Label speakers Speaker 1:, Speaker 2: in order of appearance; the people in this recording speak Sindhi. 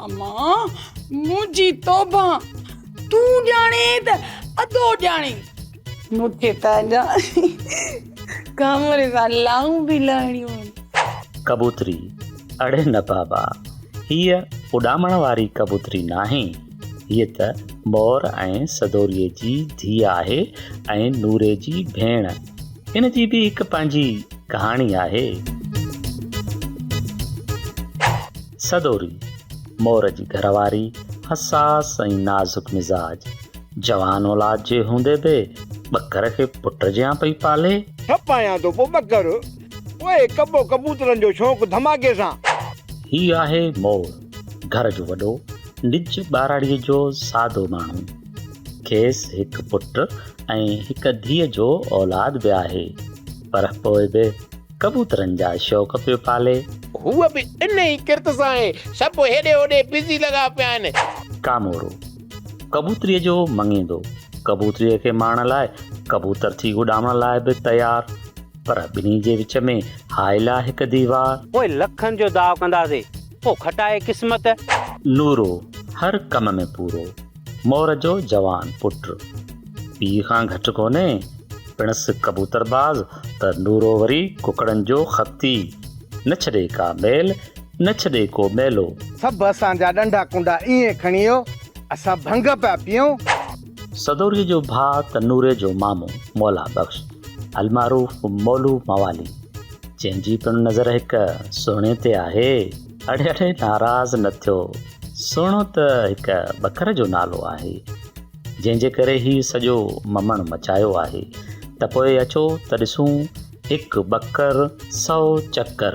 Speaker 1: امان منهنجي توبه تون ڄاڻي ته ادو ڄاڻي. مون کي ته اڃا ڪامري سان لائون به لائڻيون آهن. ڪبوتري،
Speaker 2: اڙي نه بابا، هيء اڏامڻ واري ڪبوتري ناهي، هيء ته مور ۽ سدوريء جي ڌيء آهي ۽ نوري جي ڀيڻ. ان جي به هڪ پنهنجي ڪهاڻي آهي. سدوري، مور جي گهر واري حساس ۽ نازڪ مزاج، جوان اولاد جي هوندي به ٻڪر کي پٽ جيان پئي پالي. ٺپ آهيان ٿو پوء
Speaker 3: ٻڪر، پوء ڪٻو ڪبوترن جو شوق ڌماڪي سان. هي آهي
Speaker 2: مور، گهر جو وڏو، نج ٻهراڙيء جو سادو ماڻهو. کيس هڪ پٽ ۽ هڪ ڌيء جو اولاد به آهي، پر پوء به. ڪبوترن جا شوق پيو پالي. هوء به ان
Speaker 4: ئي ڪرت سان آهي. سڀ هيڏي هوڏي بزي لڳا پيا آهن. ڪامورو،
Speaker 2: ڪبوتريء جو مڱيندو، ڪبوتريء کي ماڻڻ لاء ڪبوتر ٿي اڏامڻ لاء به تيار، پر ٻنهي جي وچ ۾ هائل آ هڪ ديوار. پوء لکن جو
Speaker 5: داء ڪنداسين، پوء کٽائي قسمت. نورو،
Speaker 2: هر ڪم ۾ پورو. مور جو جوان پٽ پيء کان گهٽ ڪونهي، پڻس ڪبوتر باز ته نورو وري ڪڪڙن جو خطي، نه ڇڏي ڪا ميل، نه ڇڏي ڪو ميلو. سڀ اسان جا
Speaker 3: ڏنڊا ڪنڊا ايئن کڻيو، اسان ڀنگ پيا پيئون. سدوريء
Speaker 2: جو ڀاء ته نوري جو مامو مولا بخش المعروف مولو موالي، جنهن جي پڻ نظر هڪ سهڻي تي آهي. اڙي اڙي ناراض نه ٿيو سهڻو ته هڪ ٻڪر جو نالو آهي جنهن جي ڪري هي سڄو ممڻ مچايو آهي ته پوء اچو ته ڏسون هڪ ٻڪر سو چڪر.